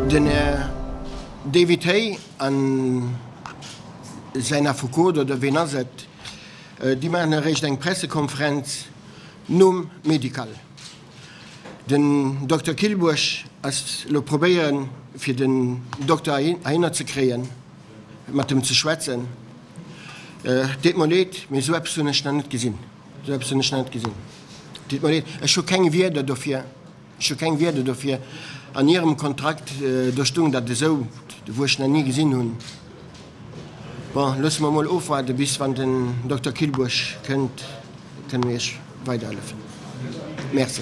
Den Här David Hay a säin Affekot, oder ween ass et, déi maachen eréischt eng Pressekonferenz nom Médical. Den Dokter Kyllbuerg ass elo probéieren, fir den Dokter heihinner ze kréien, mat em ze schwätzen. Deet mer leed, mee esou eppes hunn ech nach net gesinn. Sou eppes hunn ech nach net gesinn. Et deet mer leed, ech hu keng Wierder dofir. Ech hu keng Wierder dofir. An hirem Kontrakt, do stoung dat esou, wou ech nach ni gesinn hunn. Bon, loosse mer emol ofwaarden, bis wann den Dokter Kyllburg kënnt, da kënne mir Iech weiderhëllefen. Merci.